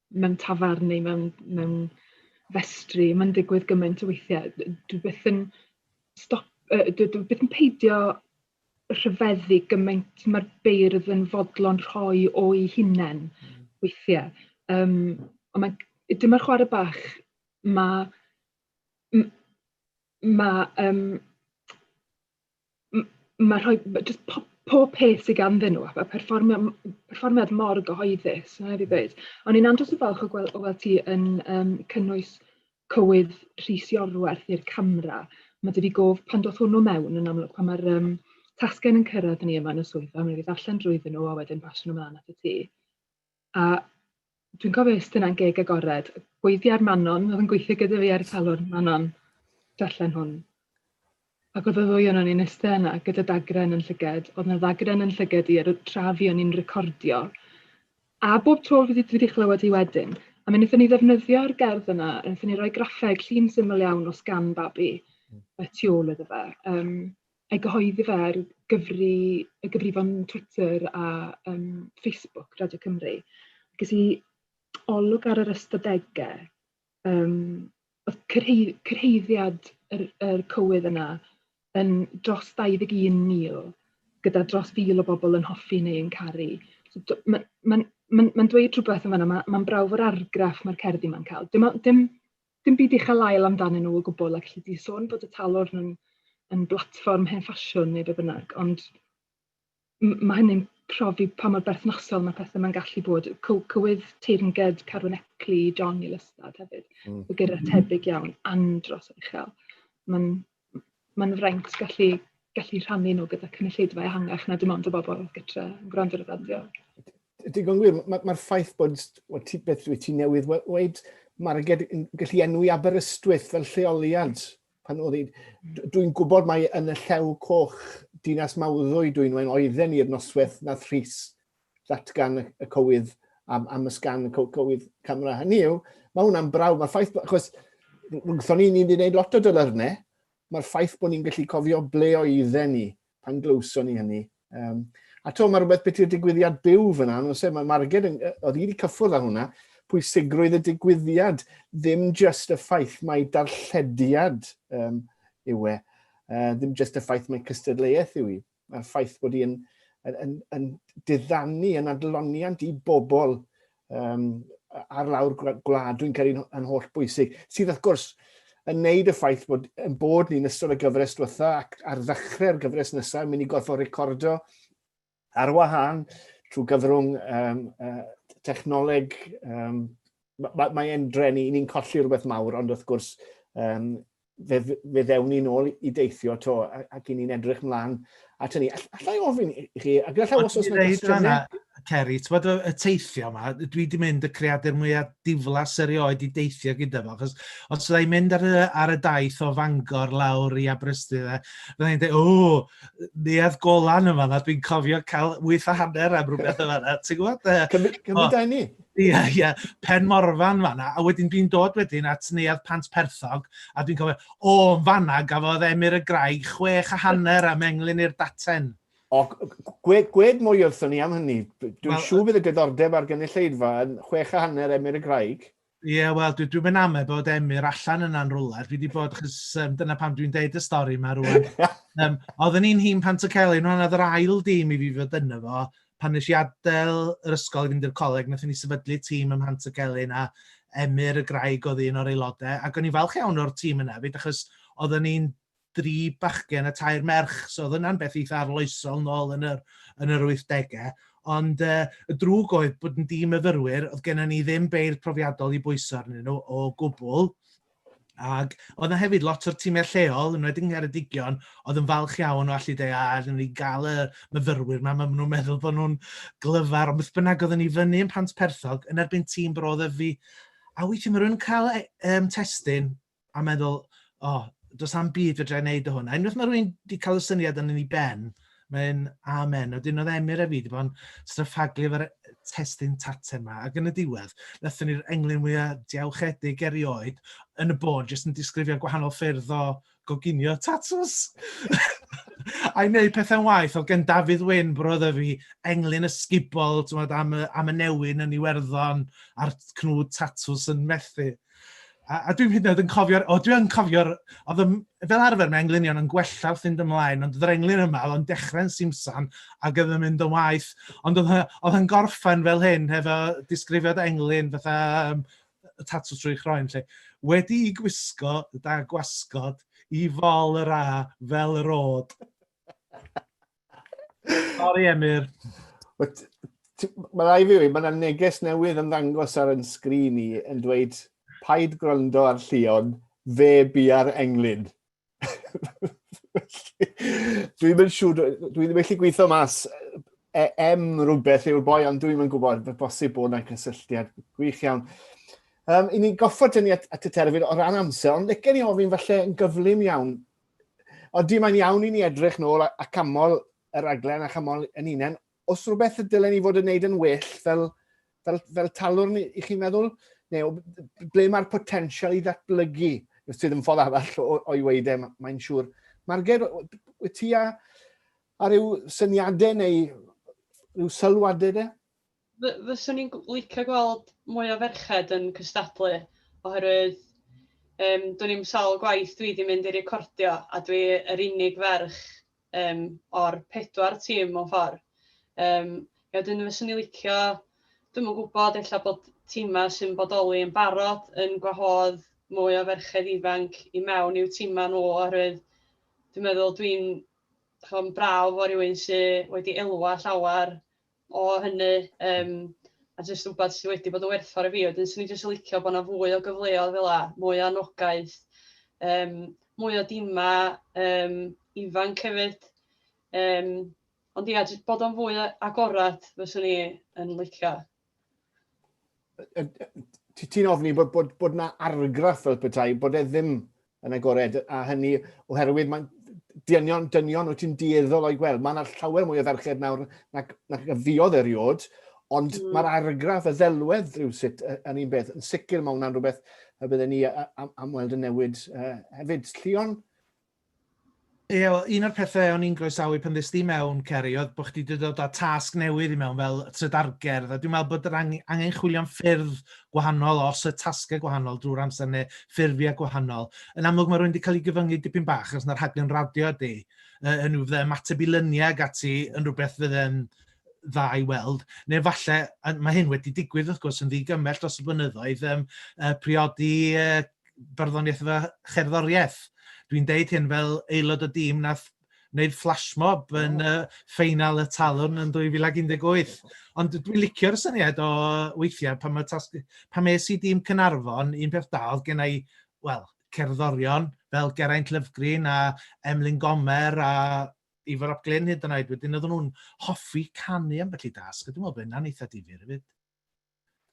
mewn tafarn neu mewn mewn festri, mae'n digwydd gymaint o weithiau. Dwi byth yn stop, uh, dwi, dwi byth yn peidio rhyfeddu gymaint mae'r beirdd yn fodlon rhoi o'i hunain hmm. weithiau. Um, ond mae, dyma'r chwarae bach, mae, mae, um, m- ma' rhoi ma' jyst po- pob peth sy ganddyn nhw a fel perfformio m- perfformiad mor gyhoeddus, ma' raid fi ddweud. O'n i'n andros o falch o gwel- o weld ti yn yym cynnwys cywydd Rhys Iorwerth i'r camera. Mae 'da fi gof pan doth hwnnw mewn yn amlwg pan mae'r yym tasgen yn cyrraedd ni yma yn y swyddfa, mi wn i ddarllen drwyddyn nhw a wedyn pasio nhw mlaen atat ti. A dwi'n cofio iste 'na'n geg agored, gweithiau'r Manon, oedd yn gweithio gyda fi ar y salon, Manon, darllen hwn. Ac oedd y ddwy o'n i'n iste yna gyda dagren yn llyged, oedd yna ddagren yn llyged i ar y tra fi o'n i'n recordio. A bob tro fi wedi chlywed hi wedyn, a mi wnaethon ni ddefnyddio'r gerdd yna, wnaethon ni roi graffeg llun syml iawn o sgan babi y tu ôl iddo fe. Um, ei gyhoeddi fe ar gyfri- y gyfrifon Twitter a yym Facebook Radio Cymru. Ges i olwg ar yr ystadegau, yym oedd cyrhei- cyrhaeddiad yr yr cywydd yna yn dros 21,000 gyda dros fil o bobl yn hoffi neu yn caru. So d- ma' ma'n ma'n ma'n dweud rhywbeth yn fan'na, ma' ma'n brawf o'r argraff ma'r cerddi 'ma'n cael. Dim o- dim Dim byd uchel ael amdanyn nhw o gwbl ac alli di sôn bod y talwrn yn yn blatfform hen ffasiwn neu be' bynnag ond m- ma' hynny'n profi pa mor berthnasol ma' pethe 'ma'n gallu bod. Cyw- cywydd teyrnged Carwyn Eckley i John i Lystad hefyd. Mm. Fe gyrra tebyg iawn andros o uchel. Ma'n mae'n fraint gallu gallu rhannu nhw gyda cynulleidfa ehangach na dim ond y bobl gytre yn gwrando ar y radio. Digon gwir, mae'r ma ffaith bod, well, ti, beth dwi ti newydd weid, mae'r gallu enwi Aberystwyth fel lleoliad. Pan oedd dwi'n gwybod mae yn y llew coch dinas mawddwy dwi'n wein oedden ni'r noswaith na thris datgan y cywydd am, am ysgan y cywydd camera. Hynny yw, mae hwnna'n brawf, mae'r ffaith, achos wrthon ni, ni'n gwneud lot o dylyrnau, mae'r ffaith bod ni'n gallu cofio ble oedden ni pan glywson ni hynny. Um, a to, mae rhywbeth beth i'r digwyddiad byw fyna, nhw'n sef, mae Marged yn, oedd wedi cyffwrdd â hwnna, pwysigrwydd y digwyddiad, ddim just y ffaith mae darllediad um, yw e, uh, ddim just y ffaith mae cystadleuaeth yw i. a'r ffaith bod hi'n yn, yn, yn diddanu yn adloniant i bobl um, ar lawr gwlad, dwi'n credu yn holl bwysig, sydd wrth gwrs yn neud y ffaith bod yn bod ni'n ystod y gyfres diwetha ac ar ddechrau'r gyfres nesaf yn mynd i gorfod recordo ar wahân trwy gyfrwng um, uh, technoleg. Um, Mae'n mae, mae drenu, ni'n colli rhywbeth mawr, ond wrth gwrs, um, fe, fe ddewn ni'n ôl i deithio to, ac i ni'n edrych mlaen at hynny. All, allai ofyn i chi, a gallai os oes yna gwestiynau... Ceri, ti'n bod y teithio yma, dwi wedi mynd y creadur mwyaf diflas erioed i deithio gyda fo, achos os ydw i'n mynd ar y, ar y daith o Fangor lawr i Aberystwyth, e, fydda i'n dweud, o, neuad golan yma, dwi'n cofio cael wyth a hanner am rhywbeth yma, ti'n gwybod? Cymryd da ni. Ie, yeah, ie, yeah. Pen Morfan fanna, a wedyn dwi'n dod wedyn at Neuadd Pant Perthog, a dwi'n cofio, o, yn fanna gafodd Emyr y Grai chwech a hanner am englyn i'r daten. O, gwed, gwed mwy wrthyn ni am hynny. Dwi'n well, siŵr bydd y gyddordeb ar gynulleidfa yn chwech a hanner Emyr y Graig. Ie, yeah, wel, dwi'n dwi mynd amau bod Emyr allan yna'n rwler. Dwi wedi bod, chys um, dyna pam dwi'n deud y stori yma rwan. um, oedden ni'n hun pan y celyn, rwan oedd yr ail dîm i fi fod yna fo, pan nes i adael yr ysgol i fynd i'r coleg, wnaethon ni sefydlu tîm ym Mhant y Celyn a Emyr y Graig oedd un o'r aelodau, ac o'n i'n falch iawn o'r tîm yna fyd, achos oedden ni'n dri bachgen a tair merch, so oedd yna'n beth eitha arloesol nôl yn yr, yn yr 80au. Ond uh, y drwg oedd bod yn dîm myfyrwyr, oedd gennym ni ddim beirdd profiadol i bwyso arnyn nhw o gwbl, Ac oedd yna hefyd lot o'r tîmiau lleol, yn wedyn Ngheredigion, oedd yn falch iawn o allu dweud, a rydyn ni gael y myfyrwyr yma, mae nhw'n meddwl bod nhw'n glyfar, ond beth bynnag oedd ni fyny yn Pant Perthog, yn erbyn tîm Bro Ddyfi, a weithiau mae rhywun cael um, testyn a meddwl, o, oh, does am byd fe dra'i wneud o hwn. A unwaith mae rhywun wedi cael y syniad yn ei ben, Mae'n amen. Wedyn oedd Emyr a fi wedi bod yn stryffaglu efo'r testun tate yma, ac yn y diwedd, wnaethon ni'r englyn mwyaf diawchedig erioed yn y bôn, jyst yn disgrifio gwahanol ffyrdd o goginio tatws. I wneud pethau'n waith, oedd gen Dafydd Wyn brodd y fi englyn ysgubol, ti'n meddwl, am y, am y newyn yn Iwerddon a'r cnwd tatws yn methu. A, a dwi'n hyd yn oed yn cofio'r... O, dwi'n cofio'r... Oedd y, fel arfer mae englunion yn gwella wrth fynd ymlaen, ond yr englun yma oedd o'n dechrau'n simsan ac oedd yn mynd yn waith. Ond oedd yn gorffen fel hyn, hefo disgrifiad englun fatha um, tatw trwy chroen lle. Wedi i gwisgo da gwasgod i fol yr a fel yr od. Sorry, Emyr. Mae rai fi wedi, mae yna neges newydd yn ddangos ar yn sgrin i yn dweud paid gwrando ar Llion, fe bu ar englyn. dwi'n mynd siŵr, dwi ddim eich gweithio mas e, em rhywbeth yw'r boi, ond dwi'n mynd gwybod, fe bosib bod yna cysylltiad gwych iawn. Um, I ni goffod dynnu at, at y terfyn o ran amser, ond lecen ni ofyn falle yn gyflym iawn, Ond dim ond iawn i ni edrych nôl a, a camol yr aglen a chamol yn unen. Os rhywbeth y dylen ni fod yn neud yn well fel, fel, fel talwr ni, i chi'n meddwl? Neu ble mae'r potensial i ddatblygu? Sydd yn ffordd arall o'i weid e, mae'n siŵr. Marged, wyt ti a, a rhyw syniadau neu rhyw sylwadau de? Fy- fyswn i'n gw- licio gweld mwy o ferched yn cystadlu, oherwydd yym dwn i'm sawl gwaith dwi 'di mynd i recordio a dwi yr unig ferch yym o'r pedwar tîm mewn ffordd. Yym a wedyn fyswn i'n licio, dwi'm yn gwybod, ella bod timau sy'n bodoli yn barod yn gwahodd mwy o ferched ifanc i mewn i'w timau nhw, oherwydd dwi'n meddwl dwi'n chibod yn braf bod rhywun sy wedi elwa llawer o hynny yym a jyst rywbeth sydd wedi bod yn werthfawr i fi. Wedyn 'swn i jyst yn licio bod 'na fwy o gyfleoedd fel 'na, mwy o anogaeth, yym mwy o dimau yym ifanc hefyd. Yym ond ia jyst bod o'n fwy agored fyswn i yn licio. ti'n ofni bod, bod, bod na argraff fel petai, bod e ddim yn agored, a hynny oherwydd mae'n dynion, dynion wyt ti'n dieddol o'i gweld. Mae'n llawer mwy o ferched nawr na, na, na fiodd eriod, ond mm. mae'r argraff, y ddelwedd rhywsut yn un beth. Yn sicr mae hwnna'n rhywbeth y byddwn ni am, am weld y newid uh, hefyd. Llion, Ie, wel, un o'r pethe o'n i'n groesawu pan ddes di mewn, Ceri, oedd bod chdi 'di dod â tasg newydd i mewn fel trydargerdd, a dwi'n meddwl bod yr ang- angen chwilio am ffyrdd gwahanol os y tasgau gwahanol drwy'r amser neu ffurfiau gwahanol. Yn amlwg mae rhywun wedi cael ei gyfyngu dipyn bach achos yna rhaglen radio ydy, yy, hynny fydde ymateb i lyniau ag ati yn rhywbeth fydde'n dda i weld, neu falle, mae hyn wedi digwydd wrth gwrs yn ddigymell dros y blynyddoedd, um, uh, priodi uh, barddoniaeth efo cherddoriaeth. Dwi'n deud hyn fel aelod o dîm na wneud flash mob yn uh, ffeinal y talwn yn 2018. Ond dwi'n licio'r syniad o weithiau pan, mae tasg, pan mae si dîm Cynarfon, un peth da oedd gen i, wel, cerddorion fel Geraint Lyfgrin a Emlyn Gomer a Ifor Ap Glyn hyd yn oed. Wedyn oedden nhw'n hoffi canu am felly dasg, a dwi'n meddwl bod hynna'n eitha difyr hefyd.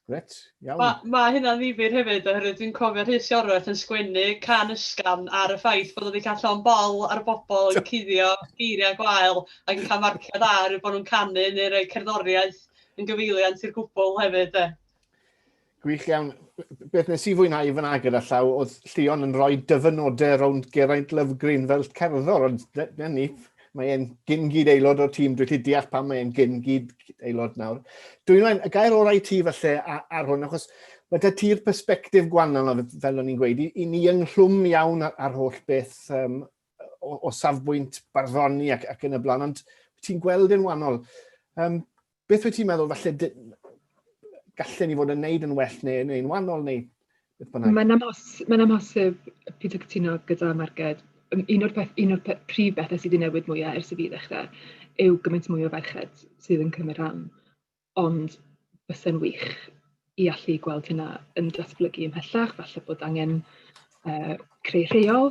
Gret, iawn. Ma, ma hynna'n ddifyr hefyd, oherwydd dwi'n cofio Rhys Iorwerth yn sgwennu can ysgafn ar y ffaith bod o wedi cael llon bol ar y bobl yn cuddio geiriau gwael ac yn cael marciau da oherwydd bod nhw'n canu neu rhoi cerddoriaeth yn gyfeiliant i'r gwbl hefyd de. Gwych iawn. Beth nes i fwynhau fy fyna gyda llaw oedd Llion yn rhoi dyfynodau rownd Geraint Lovgreen fel cerddor, ond dyna ni. Mae e'n gyn-gyd aelod o'r tîm, dwi'n gallu deall pam mae e'n gyn-gyd aelod nawr. Dwi'n rhaid, y gair orau ti falle ar hwn, achos mae da ti'r perspektif gwannol, fel o'n i'n gweud, i, i ni ynghlwm iawn ar, ar holl beth um, o, o safbwynt barddoni ac, ac yn y blaen, ond ti'n gweld yn wannol. Um, Beth wyt ti'n meddwl, falle gallen ni fod yn neud yn well neu, neu yn wahanol neu beth bynnag? Mae'n amos, mae'n amhosib pyd o cytuno gyda Marged. Un o'r, peth, un o'r peth, prif bethau sydd wedi newid mwyaf ers i fi ddechrau yw gymaint mwy o ferched sydd yn cymryd rhan. Ond bysen wych i allu gweld hynna yn datblygu ymhellach, falle bod angen uh, creu rheol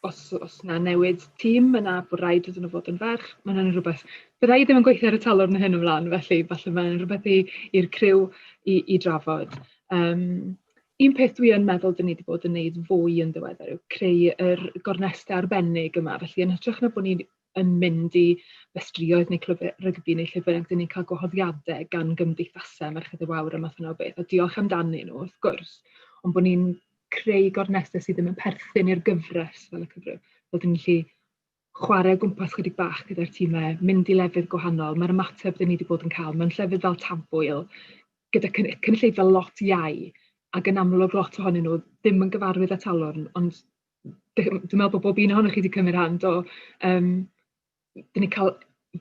os, os na newid tîm, yna bod rhaid iddyn nhw fod yn ferch. Mae hynny'n rhywbeth, byddai ddim yn gweithio ar y talwrn hyn ymlaen, felly falle mae'n rhywbeth i'r criw i, i drafod. Um, un peth dwi yn meddwl dyn ni wedi bod yn gwneud fwy yn ddiweddar yw creu yr gornestau arbennig yma. Felly yn hytrach na bod ni yn mynd i festrïoedd neu clwb rygbi neu lle bynnag, dyn ni'n cael gwahoddiadau gan gymdeithasau Merched y Wawr a math yna o beth, a diolch amdanyn nhw, wrth gwrs, ond bod ni'n creu gornesau sydd ddim yn perthyn i'r gyfres fel y cyfryw, fel dyn ni'n gallu chwarae o gwmpas chydig bach gyda'r tîmau, mynd i lefydd gwahanol, mae'r ymateb dyn ni wedi bod yn cael mewn llefydd fel Tafwyl, gyda cynulleidfa lot iau, ac yn amlwg lot ohonyn nhw ddim yn gyfarwydd â talwrn, ond dwi'n meddwl bod bob un ohonoch chi wedi cymryd rhan do, yym dan ni'n cael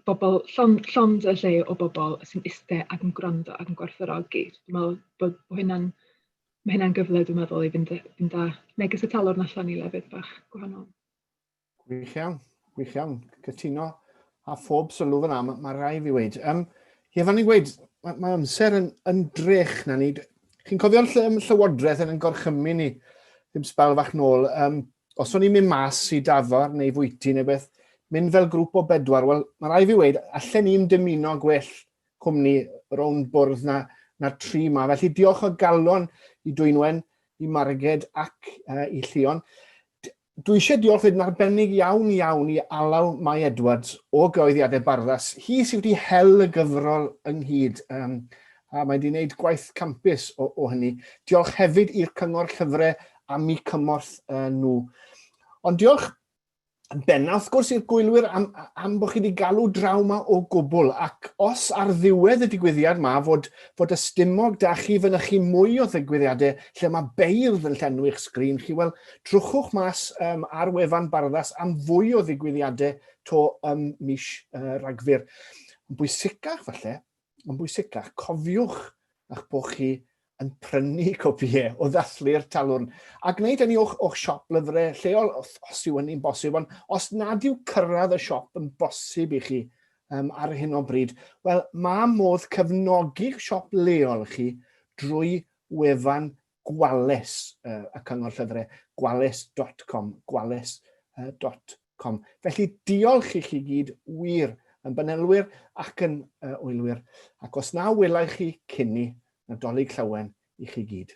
bobl llon- llond y lle o bobl sy'n iste ac yn gwrando ac yn gwerthfawrogi. Dwi'n meddwl bod bod hynna'n... ma' hynna'n gyfle dwi'n meddwl i fynd â fynd â neges y talwrn allan i lefydd bach gwahanol. Gwych iawn, gwych iawn, cytuno. A phob sylw fyna, mae rhai fi wedi. Um, ie, fan ni'n gweud, mae, mae amser yn, yn drech na ni. Chi'n cofio'r ll llywodraeth yn gorchymyn ni, ddim sbel fach nôl. Um, os o'n i'n mynd mas i dafar neu fwyty neu beth, mynd fel grŵp o bedwar, wel, mae rhai fi wedi, allan ni'n dymuno gwell cwmni rownd bwrdd na, na tri ma. Felly diolch o galon i Dwynwen, i Marged ac uh, i Llion. Dwi eisiau diolch wedyn arbennig iawn iawn i Alaw Mai Edwards o Gyhoeddiadau Barddas. Hi sydd wedi hel y gyfrol ynghyd, um, a mae wedi gwneud gwaith campus o, o hynny. Diolch hefyd i'r Cyngor Llyfrau am i cymorth uh, nhw. Ond diolch yn benna, wrth gwrs, i'r gwylwyr am, am bod chi wedi galw draw ma o gwbl, ac os ar ddiwedd y digwyddiad ma fod, fod y stumog da chi fynychu mwy o ddigwyddiadau lle mae beirdd yn llenwi'ch sgrin chi, wel, Trwchwch mas um, ar wefan Barddas am fwy o ddigwyddiadau to ym mis uh, Rhagfyr. Yn bwysicach falle, yn bwysicach, cofiwch a'ch bod chi yn prynu copïau o ddathlu'r talwrn a gwneud hynny o'ch, o'ch siop lyfrau lleol os, os yw hynny'n bosib. Ond os nad yw cyrraedd y siop yn bosib i chi um, ar hyn o bryd, wel, mae modd cefnogi'ch siop leol chi drwy wefan Gwales, yy, y Cyngor Llyfrau, gwales.com, gwales, uh, dot com. Felly diolch i chi gyd wir yn banelwyr ac yn uh, oelwyr, ac os na welai chi cynni Nadolig Llawen i chi gyd.